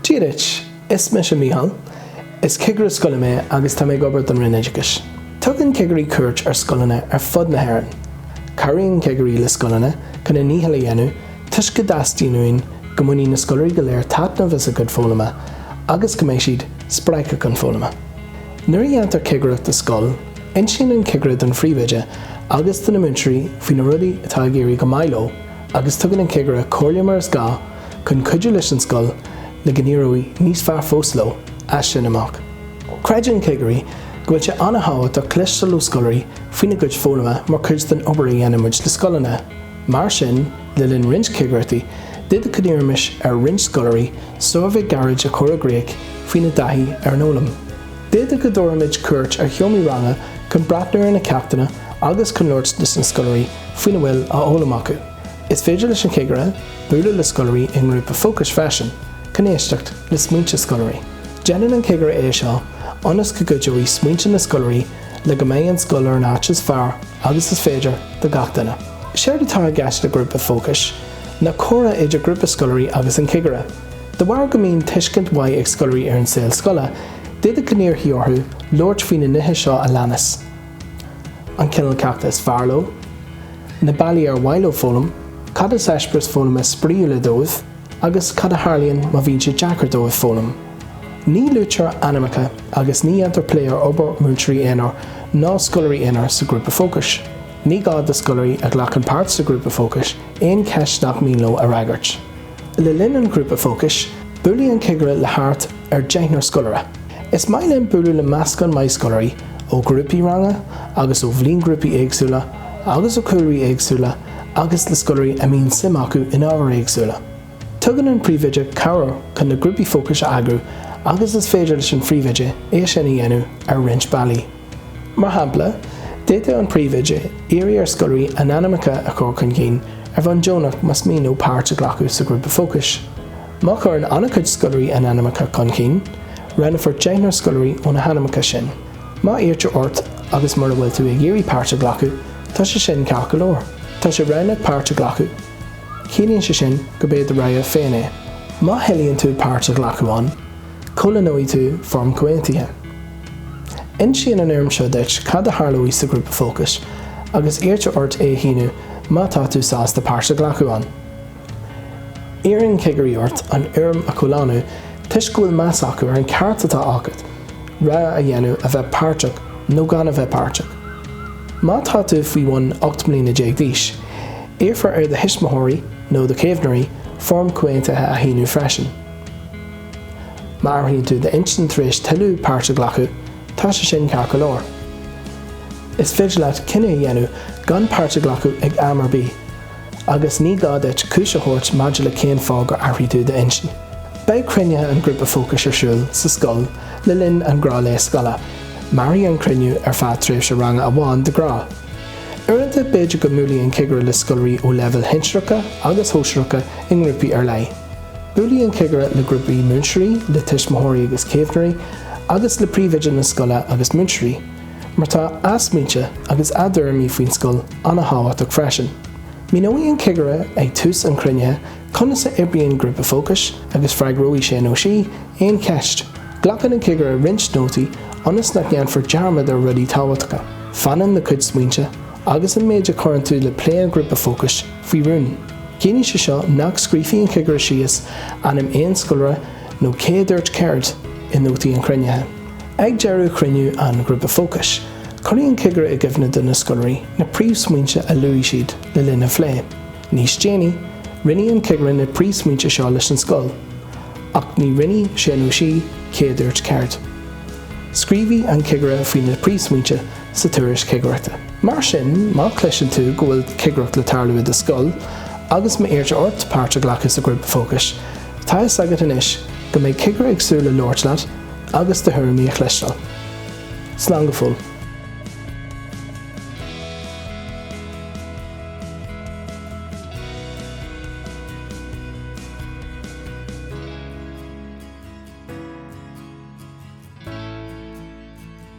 Dia duit, is mise Micheál. Is cigire scoile mé agus tá mé ag obair don Roinn Oideachais. Tugann cigirí cuairt ar scoileanna ar fud na hÉireann. Cabhraíonn cigirí le scoileanna chun a ndícheall a dhéanamh toisc go dteastaíonn uainn go mbainfidh na scoláirí go léir taitneamh as a gcuid foghlama agus go mbeidh siad spreagtha chun foghlama. Nuair a dhéantar cigireacht i scoil, Insíonn an cigire don phríomhoide agus do na múinteoirí faoi na rudaí atá ag éirí go maith leo agus tugann an cigire comhairle mar is gá chun cuidiú leis an scoil le go n-éireoidh níos fearr fós leo as sin amach. Creideann cigirí go bhfuil sé an-thábhachtach cloisteáil ó scoláirí faoina gcuid foghlama mar chuid den obair a dhéanann muid le scoileanna. Mar sin, le linn roinnt cigireachtaí, d'fhéadfadh go n-iarrfaimis ar roinnt scoláirí suirbhé gairid a chur i gcrích faoina dtaithí ar an fhoghlaim. D'fhéadfadh go dtabharfaimid cuairt ar sheomraí ranga chun breathnú ar na ceachtanna agus chun labhairt leis na scoláirí faoina bhfuil á fhoghlaim acu. Is féidir leis an chigire bualadh le scoláirí i ngrúpa fócais freisin chun éisteacht le smaointe scoláirí. Déanann an cigire é seo ionas go gcuideoidh smaointe na scoláirí le go mbeidh an scoil ar an áit is fearr agus is féidir do gach duine. Séard atá i gceist le grúpa fócais ná comhrá idir grúpa scoláirí agus an cigire. De bharr go mbíonn tuiscint mhaith ag scoláirí ar an saol scoile, d'fhéadfadh go n-iarrfaí orthu labhairt faoi na nithe seo a leanas, an cineál ceachta is fearr leo, na bealaí ar mhaith leo foghlaim, cad is eispéireas foghlama spraíúil dóibh, agus cad a tharlaíonn má bhíonn sé deacair dóibh foghlaim. Ní luaitear ainmneacha agus ní dhéantar plé ar obair múinteoirí aonair ná scoláirí aonair sa ghrúpa fócais. Ní gá do scoláirí a ghlacann páirt sa ghrúpa fócais aon cheist nach mian leo a fhreagairt. Le linn an ghrúpa fócais, buailfidh an cigire le thart ar deichniúr scoláire. Is maith linn bualadh le meascán maith scoláirí ó ghrúpaí ranga agus ó bhliainghrúpaí éagsúla agus ó chúlraí éagsúla agus le scoláirí a mbíonn suim acu in ábhair éagsúla. Tugann an príomhoide cabhair chun na grúpaí fócais a eagrú agus is féidir leis an phríomhoide é sin a dhéanamh ar roinnt bealaí. Mar shampla, d'fhéadfadh an príomhoide iarraidh ar scoláirí a n-ainmneacha a chur chun cinn ar bhonn deonach más mian leo páirt a ghlacadh sa ghrúpa fócais. Má chuireann an-chuid scoláirí a n-ainmneacha chun cinn, roghnófar deichniúr scoláirí ó na hainmneacha sin. Má iarrtar ort agus mura bhfuil tú ag iarraidh páirt a ghlacadh, tá sé sin ceart go leor. Tá sé roghnach páirt a ghlacadh. Ciallaíonn sé sin gurb é do rogha féin é. Má thoilíonn tú páirt a ghlacadh ann, comhlánóidh tú foirm chomhaontaithe. Insíonn an fhoirm seo duit cad a tharlóidh sa ghrúpa fócais agus iarrtar ort é a shíniú má tá tú sásta páirt a ghlacadh ann. Iarrann cigirí ort an fhoirm a chomhlánú toisc go bhfuil meas acu ar an ceart atá agat rogha a dhéanamh a bheith páirteach nó gan a bheith páirteach. Má tá tú faoi bhun 18 mbliana d'aois, iarrfar ar do thuismitheoirí nó do chaomhnóirí foirm comhaontaithe a shíniú freisin. Má athraíonn tú d'intinn tar éis toiliú páirt a ghlacadh, tá sé sin ceart go leor. Is féidir leat cinneadh a dhéanamh gan páirt a ghlacadh ag am ar bith, agus ní gá duit cúis a thabhairt maidir le cén fáth gur athraigh tú d'intinn. Beidh cruinnithe an ghrúpa fócais ar siúl sa scoil le linn an ghnáthlae scoile. Mairfidh an cruinniú ar feadh tréimhse ranga amháin de ghnáth. Uaireanta, b'fhéidir go mbuailfidh an cigire le scoláirí ó leibhéil shinsearacha agus shóisearacha i ngrúpaí ar leith. Buailfidh an cigire le grúpaí múinteoirí, le tuismitheoirí agus caomhnóirí, agus le príomhoide na scoile agus múinteoirí, mar tá a smaointe agus a dtuairimí faoin scoil an-thábhachtach freisin. Míneoidh an cigire ag tús an chruinnithe conas a oibríonn grúpa fócais agus freagróidh sé nó sí aon cheist. Glacann an cigire roinnt nótaí ionas nach ndéanfar dearmad ar rudaí tábhachtacha. Fanann do chuid smaointe agus an méid a chuireann tú le plé an ghrúpa fócais faoi rún. Ciallaíonn sé seo nach scríobhfaidh an cigire síos ainm aon scoláire nó cé a dúirt céard i nótaí an chruinnithe. Ag deireadh chruinniú an ghrúpa fócais, cuirfidh an cigire i gcuimhne do na scoláirí na príomhsmaointe a luaigh siad le linn an phlé. Níos déanaí, roinnfidh an cigire na príomhsmaointe seo leis an scoil, ach ní roinnfidh sé nó sí cé a dúirt céard. Scríobhfaidh an cigire faoi na príomhsmaointe sa tuairisc chigireachta. Mar sin, má chloiseann tú go bhfuil cigireacht le tarlú i do scoil agus má iarrtar ort páirt a ghlacadh sa ghrúpa fócais, tá a fhios agat anois go mbeidh cigire ag súil le labhairt leat agus do thuairimí a chloisteáil. Slán go fóill.